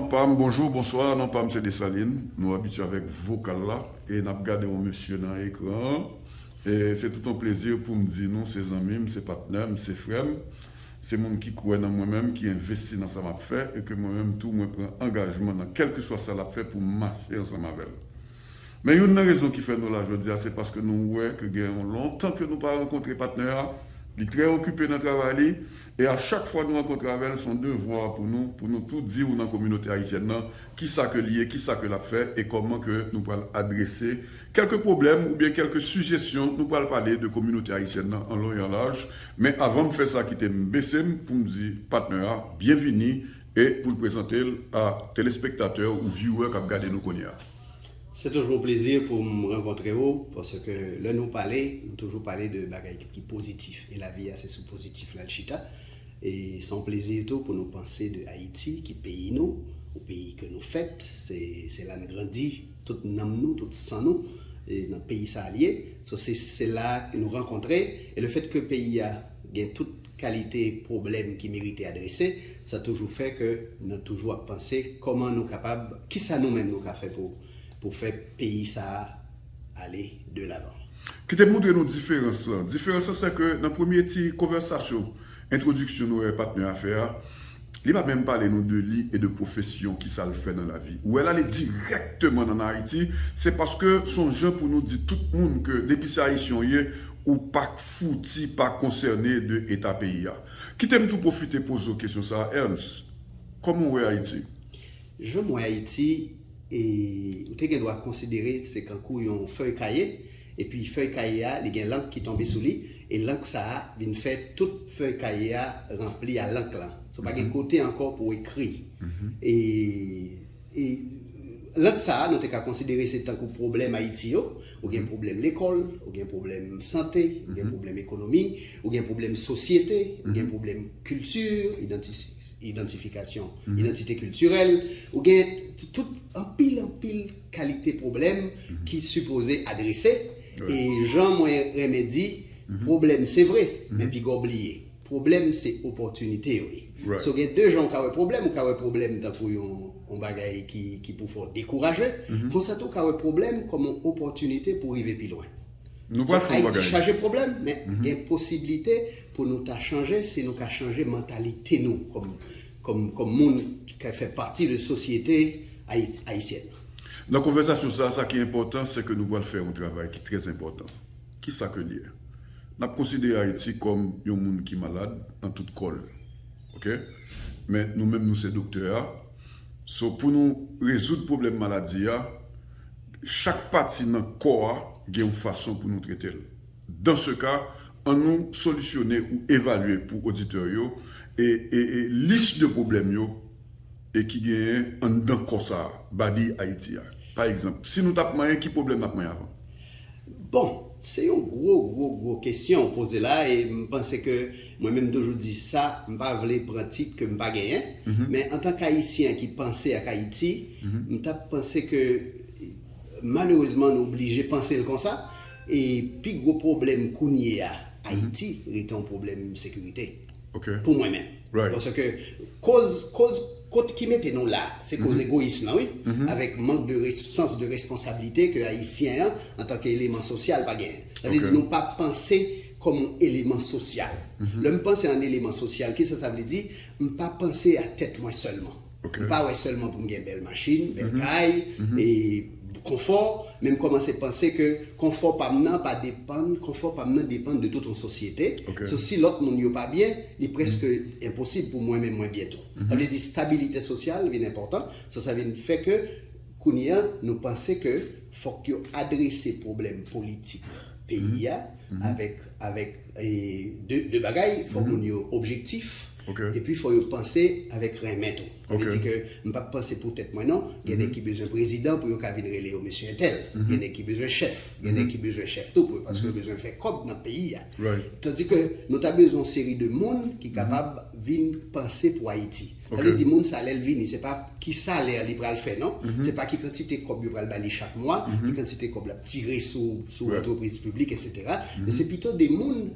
Non pam bonjour bonsoir non pam se Dessaline nou abitye avèk vokal la e nap gade yon mesye nan ekran an e se tout yon plezi poum di nou se zanmim se patnèm se frèm se moun ki kwè nan mwen menm ki envesti nan sa map fè e ke mwen menm tou mwen pran angajman nan kèlkeswa sa lap fè poum mache ansanm avèl men youn nan rezon ki fè nou la jodi a se paske nou wè ke gen yon lontan ke nou pa rankontre patnè a li trè okipe nan travay li E a chak fwa nou rankontre avè l, s on devwa pou nou, pou nou tou di ou nan kominote ayisyèn nan, ki sa ke li ye, ki sa ke l ap fè, e kòman ke nou pral adrese kèlke pwoblèm oubyen kèlke sijesyon nou pral pale de kominote ayisyèn nan an long e an laj. Men avan m fè sa kite m bese m pou m di patnè a byenvini e pou l prezante l a telespektatè ou viewè k ap gade nou kounye a. Se toujou yon plezi pou m rankontre ou paske lè nou pale nou toujou pale de bagay ki pozitif e lavi a se sou pozitif la l chita e se yon plezi tou pou nou panse de Ayiti ki peyi nou yon peyi ke nou fèt se la n grandi tout nanm nou tout san nou nan peyi sa l ye se la nou rankontre e lefètke peyi a gen tout kalite pwoblèm ki merite adrese, sa toujou fè ke nou toujou ap panse kòman nou kapab, kisa nou menm nou ka fè pou fè peyi sa a ale de lavan. Kite m montre nou diferans lan. Diferans lan se ke nan premye ti konvèsasyon, entwodiksyon nou wè patnè a fè a, li pa menm pale nou de li e de pwofesyon, kisa l fè nan lavi. Ou wè la li dirèkteman nan Ayiti, se paske son jan pou nou di tout moun ke depi se Ayisyen w ye, ou pa k. fouti pa konsène de eta peyi a. Kite m tou pwofite poze w kesyon sa a, Ernst, kòman w wè Ayiti? Jan m wè Ayiti, e, ou te gen dwa konsidere se kankou yon fèy kaye, epi fèy kaye a li gen lank ki tonbe sou li, e lank sa a vin fè tout fèy kaye a ranpli a lank lan. Sou pa gen kote ankò pou w ekri. E, E rant sa a nou te ka konsidere se tankou pwoblèm Ayiti yo, ou gen pwoblèm lekòl, ou gen pwoblèm sante, ou gen pwoblèm ekonomi, ou gen pwoblèm sosyete, ou gen pwoblèm kilti, idantifikasyon, idantite kiltirèl, ou gen tout anpil anpil kalite pwoblèm ki sipoze adrese e jan mwen renmen di pwoblèm se vre men pigaw bliye. Pwoblèm se opòtinite yo ye. So gen 2 jan ou ka wè pwoblèm, ou ka wè pwoblèm tankou yon bagay ki pou fè w dekouraje, konsa tou ou ka wè pwoblèm kòm yon opòtinite pou w rive pi lwen. Ayiti chaje pwoblèm, men gen posiblite pou nou ta chanje si nou ka chanje mantalite nou kòm moun ki ka fè pati de sosyete ayisyèn nan. Nan konvèsasyon sa a, sa ki enpòtan se ke nou pral fè yon travay ki trèzenpòtan. Ki sa ke l ye? N ap konsidere Ayiti kòm yon moun ki malad nan tout kò l. Ok. Men nou menm nou se doktè a. So pou nou rezoud pwoblèm maladi a, chak pati nan kò a gen yon fason pou nou trete l. Dan se ka, an nou solisyone ou evalye pou oditè yo e lis de pwoblèm yo. e ki genyen anndan kò sa a, body Ayiti a? Pa egzanp, si nou t ap manyen, ki pwoblèm n ap manyen avan? Bon, se yon gwo, gwo, gwo kesyon ou poze la e m panse ke mwen menm m toujou di sa, m pa vle pran tit ke m pa genyen, men antan k Ayisyen ki panse ak Ayiti, m t ap panse ke malerezman nou oblije panse l konsa e pi gwo pwoblèm kounye a Ayiti rete yon pwoblèm sekirite. pou mwen menm. Paske koz kot ki mete nou la, se koz egoyism lan wi, avèk mank de sans de responsabilite ke ayisyen an antanke eleman sosyal pa genyen. Sa vle di nou pa panse kòm yon eleman sosyal. Lè m panse an eleman sosyal, kisa sa vle di? M pa panse a tèt mwen sèlman. M pa wè sèlman pou m gen bèl machin, bèl kay, e konfò, men m kòmanse panse ke konfò pa m nan pa depann, konfò pa m nan depann de tout yon sosyete. So si lòt moun yo pa byen, li prèske enposib pou mwen menm mwen byen tou. Sa vle di stabilite sosyal vin enpòtan. So sa vin fè ke kounye a nou panse ke fòk yo adrese pwoblèm politik peyi a avèk, avèk de bagay, fòk moun yo objektif, E pi fò yo panse avèk renmen tou. Sa vle di ke m pa p panse pou tèt mwen non. Gen nèg ki bezwen prezidan pou yo ka vin rele yo mesye entèl. Gen nèg ki bezwen chèf. Gen nèg ki bezwen chèf tou pou yo paske yo bezwen fè kòb nan peyi a. Tandi ke nou ta bezwen yon seri de moun ki kapab vin panse pou Ayiti. Sa vle di moun sa lè l vini se pa ki salè li pral fè non. Se pa ki kantite kòb yo pral ba li chak mwa, ki kantite kòb l ap tire sou antrepriz piblik etsetera. Men se pito de moun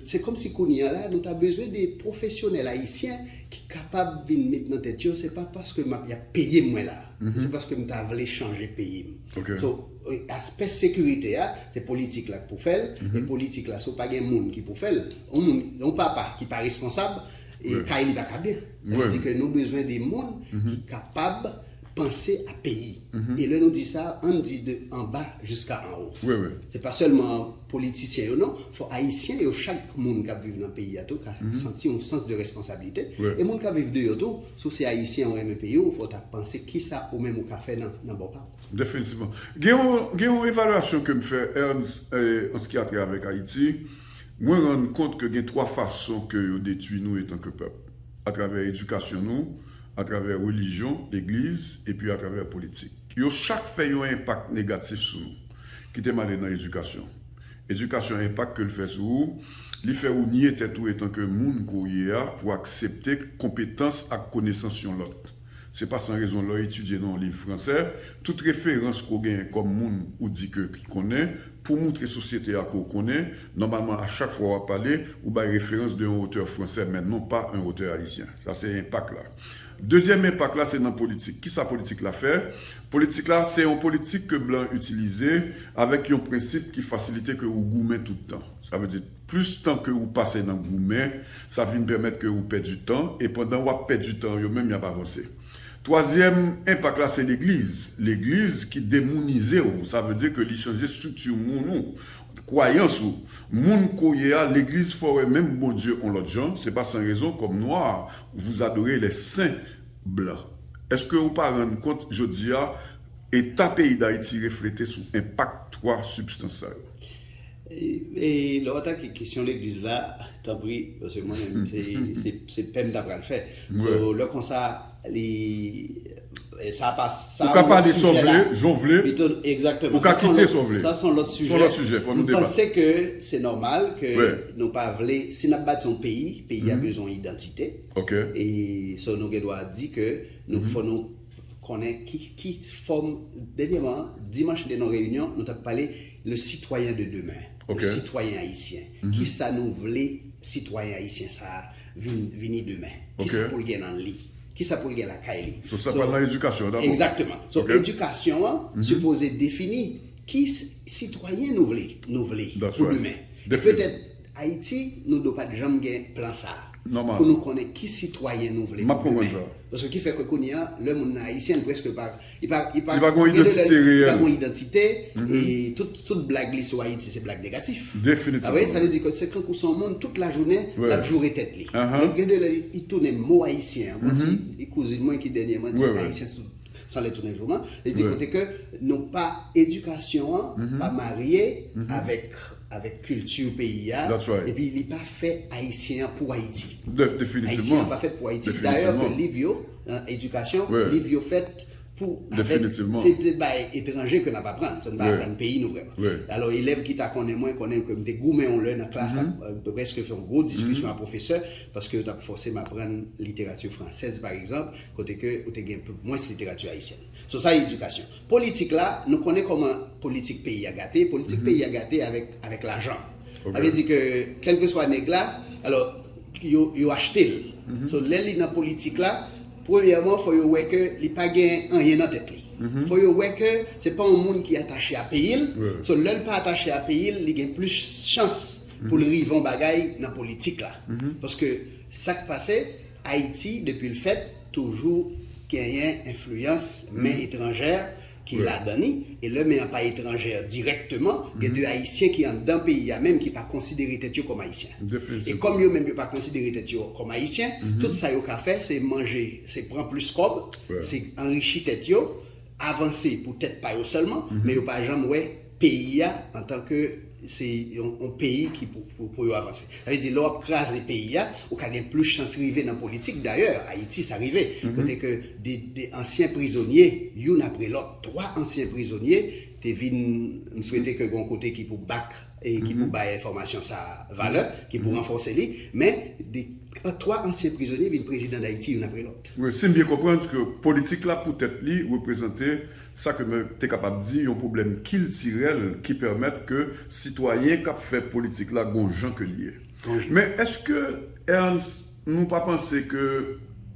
Se kòm si kounye a la nou ta bezwen de pwofesyonèl ayisyen ki kapab vin met nan tèt yo se pa paske map yap peyem mwen la se paske m ta vle chanje peyim so aspè sekirite a se politik la k pou fèl e politik la si w pa gen moun ki pou fèl yon papa ki pa responsab kay li pa ka byen sa vle di ke nou bezwen de moun ki kapab panse a peyi. E lè nou di sa, ann di de anba jiska anwo. Se pa sèlman politisyen yo non, fò ayisyen yo chak moun k ap viv nan peyi a tou ka santi yon sans de responsabilite. E moun k ap viv deyò tou, si w se ayisyen ou renmen peyi w, fò w ta panse kisa ou menm ou ka fè nan bò pa w. Definitivman. Gen yon evalyasyon ke m fè an se ki a trè avèk Ayiti, mwen rann kont ke gen twa fason ke yo detwi nou etan ke pèp. atravè edikasyon nou, atravè relijyon, legliz, epi atravè politik. Yo chak fè yon enpak negatif sou nou. Kite m ale nan edikasyon. Edikasyon enpak ke l fè sou ou, li fè ou nye tèt ou etanke moun ke w ye a pou aksepte konpetans ak konesans yon lòt. Se pa san rezon lè w etidye nan yon liv fransè, tout referans ke w genyen kòm moun ou di ke ki konnen, pou w moutre sosyete a ke w konnen, nòmalman a chak fwa w ap pale, ou bay referans de yon otè fransè men non pa yon otè ayisyen. Sa se enpak la. Dezyèm enpak la se nan politik. Ki sa politik la fè? Politik la se yon politik ke blan itilize avèk yon prensip ki fasilite ke ou goumen tout tan. Sa vle di. Plis tan ke ou pase nan goumen, sa vin pèmèt ke ou pèdi tan, e pandan w ap pèdi tan, yo menm y ap avanse. Twazyèm enpak la se legliz. Legliz ki demounize ou, sa vle di ke li chanje estrikti moun ou, kwayans ou. Moun ke w ye a, legliz fè w wè menm Bondye on lòt jan, se pa san rezon kòm nwa, vous adorez les saints blancs. Eske ou pa rann kont jodi a, eta peyi Dayiti reflete sou enpak twa sibstans sa yo? E lè w atake kesyon legliz la, tanpri, paske mwen menm se pè m ta pral fè. So, lè konsa, li, sa pa, sa Ou ka pale sa w vle, jan w vle, Exactement. ou ka kite sa w vle. Sa son lòt sijè. Son lòt sijè, fò nou deba. M panse ke se nòmal ke nou pa vle, si n ap bati yon peyi, peyi a bezwen yon idantite. Ok. E so nou gen dwa di ke nou fò nou konnen ki fòm, dènyèman, dimanch nou te nan reyinyon, nou t ap pale, Le citoyen de demain, le citoyen ayisyen, kisa nou vle sitwayen ayisyen sa a vini demen? Kisa pou l gen nan li? Kisa pou l gen lakay li? So sa pral nan edikasyon an dabò. Egzakteman. So edikasyon an sipoze defini ki sitwayen nou vle nou vle pou demen. E petèt Ayiti nou do pat janm gen plan sa a. Nòmal. Pou nou konnen ki sitwayen nou vle pou demen. Map konprann sa. Paske ki fè ke kounye a lè moun nan ayisyen l preske pa Li pa gon identite reyèl. Li pa gon identite e tout blag li sou Ayiti se blag negatif. Definitivman. Sa vle di, sa vle di ke se tankou se yon moun tout lajounen l ap joure tèt li. Donk gen de lè li tounen mo ayisyen an. Mwen di, yon kouzin mwen ki dènyèman di ayisyen se tout san lè tounen jouman. Li di kote ke nou pa edikasyon an pa marye avèk kilti peyi a epi li pa fè ayisyen an pou Ayiti. Definitivman. Ayisyen an pa fèt pou Ayiti. Dayè ke liv yo. nan edikasyon, liv yo fèt pou avèk, se te bagay etranje ke nap aprann, se nou pa aprann peyi nou vrèman. Alò elèv ki ta konnen mwen, konnen ke m te goumen yon lè nan klas ap prèske fè yon gwo diskisyon ak pwofesè, paske yo tap fòse m aprann literati fransèz paregzanp, kote ke ou te gen mwens literati ayisyèn. So sa edikasyon. Politik la, nou konnen kòman politik peyi a gate, politik peyi a gate avèk lajan. Sa vle di ke kèlkeswa nèg la, alò yo achte l. So lè li nan politik la, premyèman fò yo wè ke li pa gen anyen nan tèt li. Fò yo wè ke se pa yon moun ki atache a peyi l. So lè l pa atache a peyi l, li gen plis chans pou l rive yon bagay nan politik la. Paske sa k pase, Ayiti depi l fèt, toujou genyen enfliyans men etranjè ki ladan li, e lè men an pa etranjè dirèkteman, gen de ayisyen ki anndan peyi a menm ki pa konsidere tèt yo kòm ayisyen. E kòm yo menm yo pa konsidere tèt yo kòm ayisyen, tout sa yo ka fè se manje, se pran plis kòb, se anrichi tèt yo, avanse pou tèt pa yo sèlman, men yo pa janm wè peyi a antan ke se yon peyi ki pou yo avanse. Sa vle di lè w ap kraze peyi a, ou ka gen plis chans rive nan politik. Dayè, Ayiti sa rive, kote ke 2 ansyen prizonye, youn apre lòt, 3 ansyen prizonye te vin, m swete ke gon kote ki pou back, ki pou bay enfòmasyon sa a valè, ki pou ranfòse li, men 3 ansyen prizonye vin prezidan Dayiti youn apre lòt. Si m byen konprann, se ke politik la pou tèt li reprezante sa ke m te kapab di yon pwoblèm kiltirèl ki pèmèt ke sitwayen k ap fè politik la gon jan ke l ye. Men èske Ernst nou pa panse ke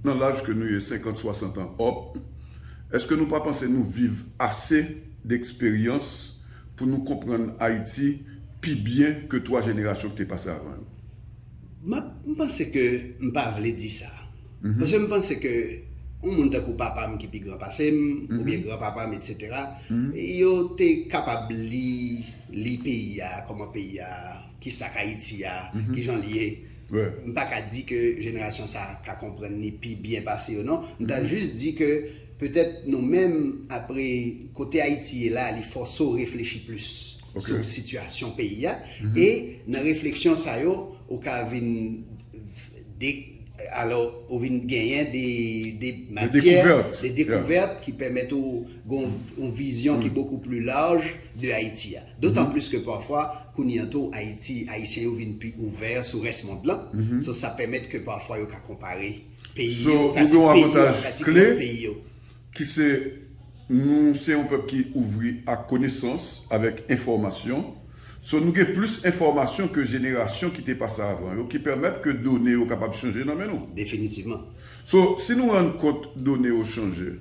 nan laj ke nou ye, senkant, swasant an òp, èske nou pa panse nou viv ase deksperyans pou nou konprann Ayiti pi byen ke twa jenerasyon ki te pase avan yo? M panse ke m pa vle di sa. Paske m panse ke yon moun tankou papa m ki pi gran pase m, oubyen gran papa m etc. Yo te kapab li, li peyi a, kòman peyi a, ki sa k Ayiti a, ki jan l ye. M pa ka di ke jenerasyon sa a ka konprann ni pi byen pase yo non. M ta jis di ke petèt nou menm apre kote Ayiti ye la li fòse w reflechi plis. sou sitiyasyon peyi a, e nan refleksyon sa yo, ou ka vin de, alò, ou vin genyen de matyè, de dekouvèt ki pèmèt ou gon yon vizyon ki bokou pli laj de Ayiti a. Dotan plis ke pafwa, kounye an tou, Ayiti, Ayisyen yo vin pi ouvè sou rès mond lan, sa pèmèt ke pafwa yo ka konpare peyi yo, pati peyi yo ak pati lòt peyi yo. Ki se, Nou se yon pèp ki ouvri ak konesans, avèk enfòmasyon. So, nou gen plis enfòmasyon ke jenerasyon ki te pase avan yo, ki pèmèt ke done yo kapab chanje nan men nou. Definitivman. So, si nou rann kont done yo chanje,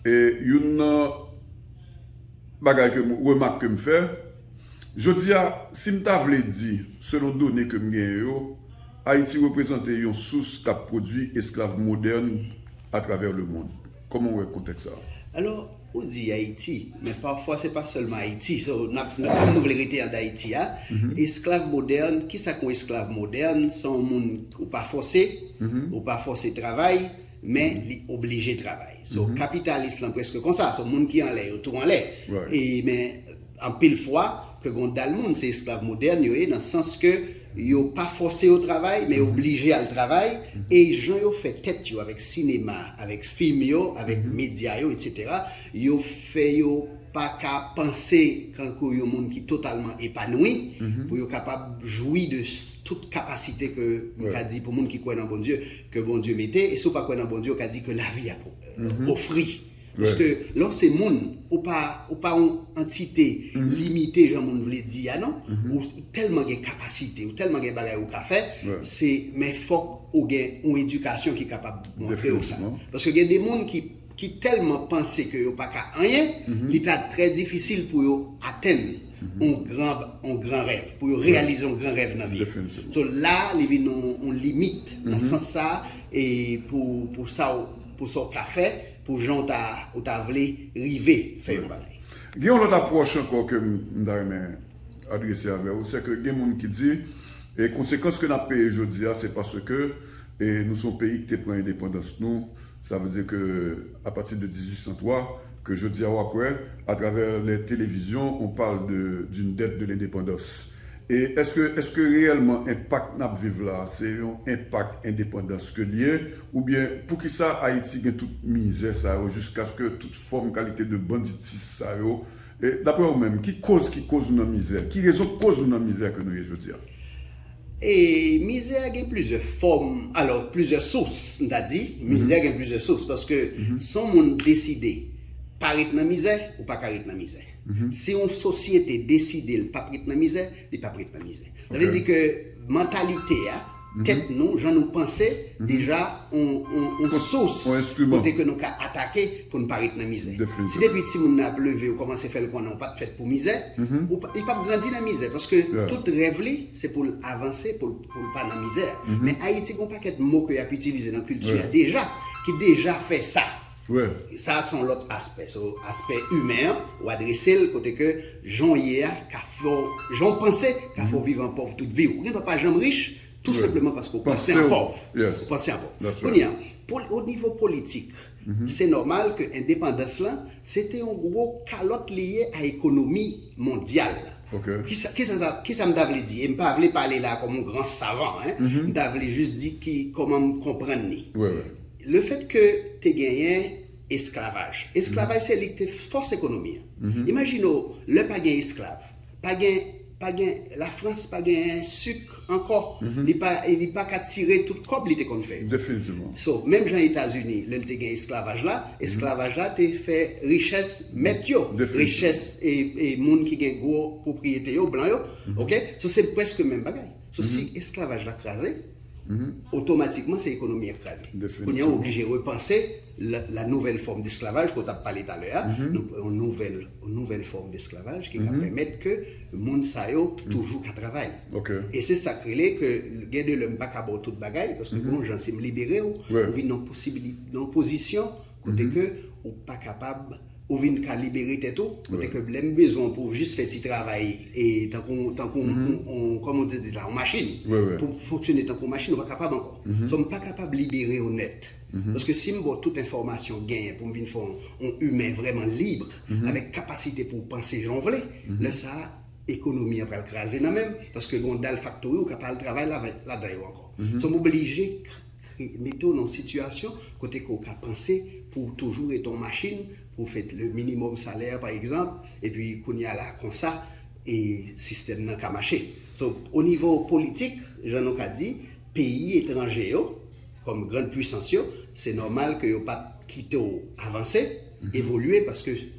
e youn nan bagay ke m, remak ke m fè, jodi a, si m ta vle di, selon done ke m genyen yo, Ayiti reprezante yon sous k ap pwodui esklav modèn atravè lemond. Kòman w wè kontèks sa a? Alò, ou di Ayiti, men pafwa se pa sèlman Ayiti. So, n ap, nan kad nou vle rete an Dayiti a, esklav modèn, ki sa k yon esklav modèn? Se yon moun ou pa fòse, ou pa fòse travay, men li oblije travay. So, kapitalis lan prèske konsa. So, moun ki anlè yo tou anlè. E, men. Anpil fwa, ke gen yon dal moun se esklav modèn yo ye nan sans ke yo pa fòse yo travay, men yo blije al travay, e jan yo fè tèt yo avèk sinema, avèk fim yo, avèk medya yo, etc. Yo fè yo pa ka panse kankou yon moun ki totalman epanwi, pou yo kapab jwi de tout kapasite ke m ka di pou moun ki kwè nan Bondye, ke Bondye mete, e si w pa kwè nan Bondye, ou ka di ke lavi a ofri. Paske lè w se moun, ou pa ou pa yon antite limite jan moun vle di a non. Ou tèlman gen kapasite, ou tèlman gen bagay ou ka fè, se men fòk ou gen yon edikasyon ki kapab montre w sa. Paske gen de moun ki ki tèlman panse ke yo pa ka anyen, li ta trè difisil pou yo atenn yon gran yon gran rèv, pou yo reyalize yon gran rèv nan vi. So la li vin yon limit nan sans sa e pou pou sa w. Pou sa w ka fè, pou jan ou ta vle rive fè yon bagay. Gen yon lòt apwòch ankò ke m ta renmen adrese avè w, se ke gen moun ki di, e konsekans ke n ap peye jodi a se paske e nou se yon peyi ki te pran endepandans nou, sa vle di ke apati de 1803, ke jodi a w ap wè atravè lè televizyon on parle de d'une dette de l'indépendance. E eske eske reyèlman enpak nap viv la se yon enpak endepandans ke li ye oubyen poukisa Ayiti gen tout mizè sa yo jiskaske tout fòm kalite de banditis sa yo e daprè ou menm ki koz ki koz nou nan mizè ki rezon koz nou nan mizè ke nou ye jodi a? E mizè a gen plizyè fòm alò plizyè sous m ta di mizè gen plizyè sous paske son moun deside pa ret nan mizè ou paka ret nan mizè. Si yon sosyete deside l pap ret nan mizè, li pap ret nan mizè. Sa vle di ke mantalite a, tèt nou, jan nou panse, deja yon sous kote ke nou ka atake pou nou pa ret nan mizè. Si depi timoun nan ap leve ou kòmanse fè l konnen ou pat fèt pou mizè, li pap grandi nan mizè paske tout rèv li se pou l avanse pou l pa nan mizè. Men Ayiti gen yon pakèt mo ke y ap itilize nan kilti a deja ki deja fè sa. Frè. Sa son lòt aspè. So aspè imen an ou adrese l kote ke jan w ye a ka fè w, jan w panse ka fè w viv an pòv tout vi w. Ou gen dwa pa janm rich tou senpleman paske ou panse an pòv. Ou panse an pòv. Kounye a, o nivo politik, se nòmal ke endepandans lan se te yon gwo kalòt li ye a ekonomi mondyal la. Kisa m ta vle di? E m pa vle pale la kòm yon gran savan. M ta vle jis di ki kòman m konprann li. Le fèt ke te genyen esklavaj. Esklavaj se li ki te fòs ekonomi an. Imajine w, lè pa gen esklav, pa gen, pa gen, Lafrans pa genyen suk ankò, li pa, li pa ka tire tout kòb li te konn fè yo. Definitivman. So, menm jan Etazini, lè li te gen esklavaj la, esklavaj la te fè richès mèt yo, richès e, e moun ki gen gwo pwopriyete yo, blan yo, ok? So se prèske menm bagay. So si esklavaj la kraze, otomatikman se ekonomi an ki kraze. Kounye a ou oblije repanse la nouvèl fòm desklavaj ke w t ap pale talè a, yon nouvèl fòm desklavaj ki ka pèmèt ke moun sa yo toujou ka travay. E se sa k rele ke gen de lè m pa ka ba w tout bagay, paske bon jan si m libere w, ou vin nan yon pozisyon, Kote ke ou pa kapab, ou vin ka libere tèt ou, kote ke lè m bezwen w pou w jis fè ti travay e tankou tankou on kòman w te di la on machin pou w fonksyone tankou on machin ou pa kapab ankò. So m pa kapab libere w nèt. Paske si m ba w tout enfòmasyon w genyen pou m vin fè w on imen vrèman libre avèk kapasite pou w panse jan w vle, lè sa a ekonomi an pral kraze nan men m paske gen on dal faktori ou ka pa al travay ladan yo ankò. So m oblije. Mete w nan yon sitiyasyon kote ke w ka panse pou w toujou rete yon machin, pou w fè le minimum salaire pa egzanp, epi kounye a la konsa sistèm nan ka mache. So, o nivo politik, jan nou ka di, peyi etranje yo, kòm grand puisans yo, se nòmal ke yo pa t kite w avanse, evolye, paske.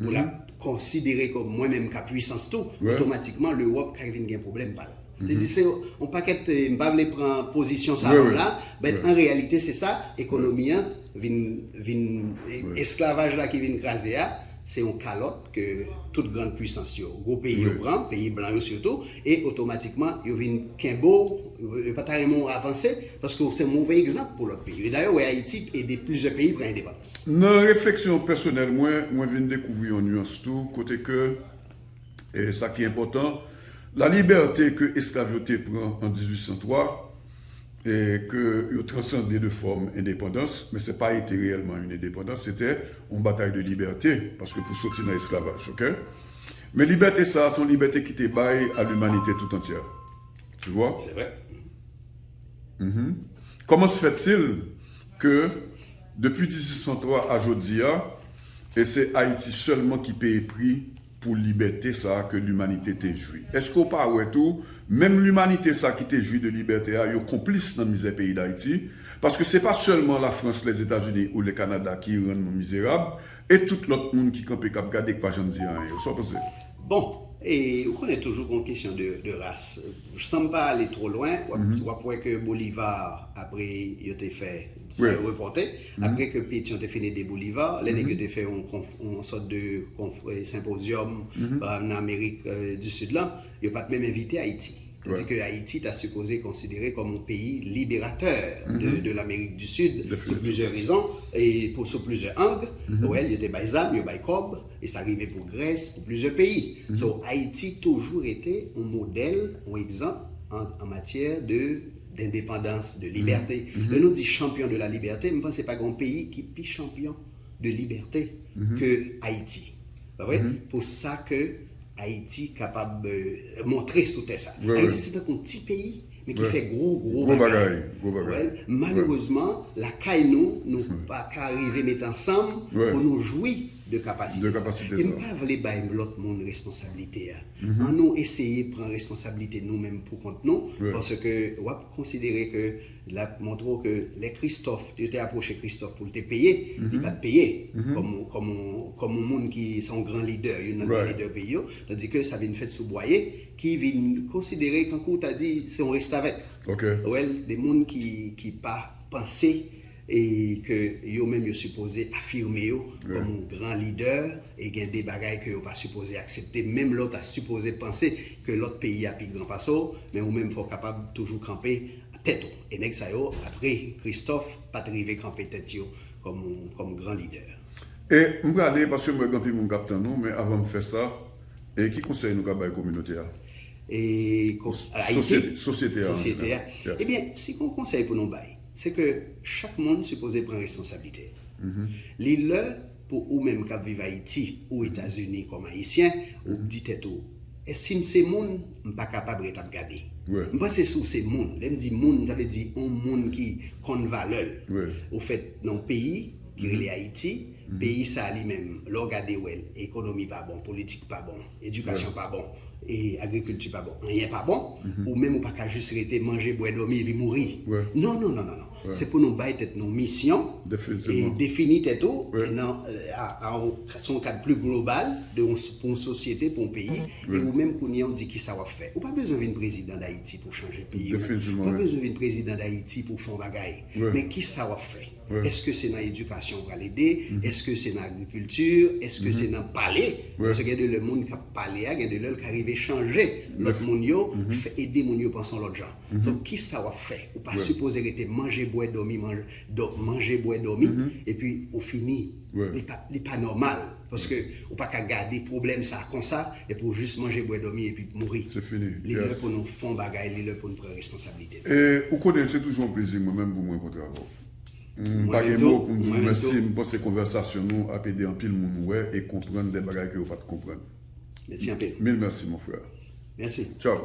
pou lap konsidere kòm mwen menm ka pwisans tou, otomatikman Lewòp ka vin gen pwoblèm pa l. Se di se yon pakèt, m pa vle pran pozisyon sa yo la, bèt an reyalite se sa ekonomi an vin, vin, esklavaj la ki vin kraze a, se yon kalòt ke tout grand pwisans yo, gwo peyi yo pran, peyi blan yo sitou, e otomatikman yo vin kenbe w, yo pa ta renmen w avanse, paske w se yon move egzanp pou lòt peyi. Dayè ou wè Ayiti ede plizyè peyi pran endepandans. Nan refleksyon pèsonèl mwen, mwen vin dekouvri yon nuans tou, kote ke, e sa ki enpòtan, la libète ke esklav yo te pran an 1803, e ke yo transande de fòm endepandans, men se pa ete reyèlman yn endepandans, se te yon batay de libète, paske pou soti nan esklavaj, ok? Men libète sa a, se yon libète ki te bay a limanite tout antyè. Tu vois? Se vre. Uhmm. Kòman se fèt sil. ke depi 1803 a jodi a, e se Ayiti sèlman ki peye pri pou libète sa ke limanite te jwi. Eske w pa wè tou, menm limanite sa ki te jwi de libète a, yo konplis nan mizè peyi Dayiti, paske se pa sèlman Lafrans, Lèzetazini ou Lèkanada ki rann nou mizerab, e tout lòt moun ki kanpe k ap gade k pa janm di anyen. Sa w panse? Bon, e ou konnen toujou gon kesyon de ras. San m pa ale two lwen, w ap wè ke Bolivar, apre yo te fè, sa yo repòte, apre ke Petyon te fin ede Bolivar, lè nèg yo te fè yon sòt de senpozyòm nan Amerik di Sid lan, yo pa t menm envite Ayiti. Tandis ke Ayiti ta sipoze konsidere kòm yon peyi liberatè de Lamerik di Sid, sou plizyè rezon, e sou plizyè ang. Wè, yo te bay zam, yo bay kòb. E sa rive pou Grèce, pou plizyè peyi. So Ayiti toujou rete yon modèl, yon egzanp an matyè de dendepandans, de libète. Lè nou di chanpyon de la libète, m panse pa gen yon peyi ki pi chanpyon de libète ke Ayiti. Pa vre? Pou sa ke Ayiti kapab montre sou tè sa. Ayiti se tankou yon ti peyi men ki fè gwo, gwo bagay. Gwo bagay. Malerezman, lakay nou, nou pa ka rive mete ansanm pou nou jwi de kapasite sa. E m pa vle bay lòt moun responsablite a. An nou eseye pran responsablite nou menm pou kont nou, paske w ap konsidere ke l ap montre w ke lè Kristòf, yo te apwoche Kristòf pou l te peye, li pa t peye kòm yon moun ki se yon gran lidè, youn nan gran lidè peyi yo, tandi ke sa vin fèt sou Bwaye ki vin konsidere kankou w ta di se yon restavèk. Ou wè l, de moun ki pa panse. e ke yo menm yo sipoze afime yo kòm yon gran lidè e gen de bagay ke yo pa sipoze aksepte menm lè w ta sipoze panse ke lòt peyi a pi gran pase w men ou menm fò w kapab toujou kanpe tèt ou e nèg sa yo apre Kristòf pa t rive kanpe tèt yo kòm gran lidè. E m prale paske m wè gen anpil moun k ap tann nou men avan m fè sa e ki konsèy nou ka bay kominote a? E konsèy? Sosyete a an jeneral. Ebyen si gen yon konsèy pou nou bay. Se ke chak moun sipoze pran responsablite l. Li lè pou ou menm k ap viv Ayiti ou Etazini kòm Ayisyen, ou di tèt ou, E si m se moun, m pa kapab ret ap gade. M panse si w se moun, lè m di moun, sa vle di yon moun ki konn valè l. Ou fèt nan yon peyi ki rele Ayiti, peyi sa a li menm, lè w gade wè l, ekonomi pa bon, politik pa bon. Edikasyon pa bon, agrikilti pa bon, anyen pa bon, ou menm ou pa ka jis rete manje, bwè, dòmi epi mouri. Non, non, non, non, non. Se pou nou bay tèt nou misyon, defini tèt ou, se yon kad pli global pou yon sosyete, pou yon peyi, e ou menm kounye a ou di kisa w ap fè. Ou pa bezwen vin prezidan Dayiti pou chanje peyi ou. Ou pa bezwen vin prezidan Dayiti pou fè yon bagay. Men kisa w ap fè? Eske se nan edikasyon ou pral ede? Eske se nan agrikilti? Eske se nan pale? Paske gen de lè moun k ap pale a, gen de lè l ka rive chanje lòt moun yo, ede moun yo panse yon lòt jan. Donk, ki sa w ap fè? Ou pa sipoze rete manje, bwè, dòmi, manje, bwè, dòmi, epi ou fini. Li pa nòmal. Paske ou pa ka gade pwoblèm sa a konsa, epi ou jis manje, bwè, dòmi, epi mouri. Li lè pou nou fè yon bagay, li lè pou nou pran responsablite. Ou konnen se toujou yon plezi mwen menm pou m rankontre avè w. M pa gen mo pou m di w mèsi, m panse konvèsasyon nou ap ede anpil moun wè e konprann de bagay ke yo pa t konprann. Mèsi anpil. Mil mèsi mon frère. Mèsi. Tchaw.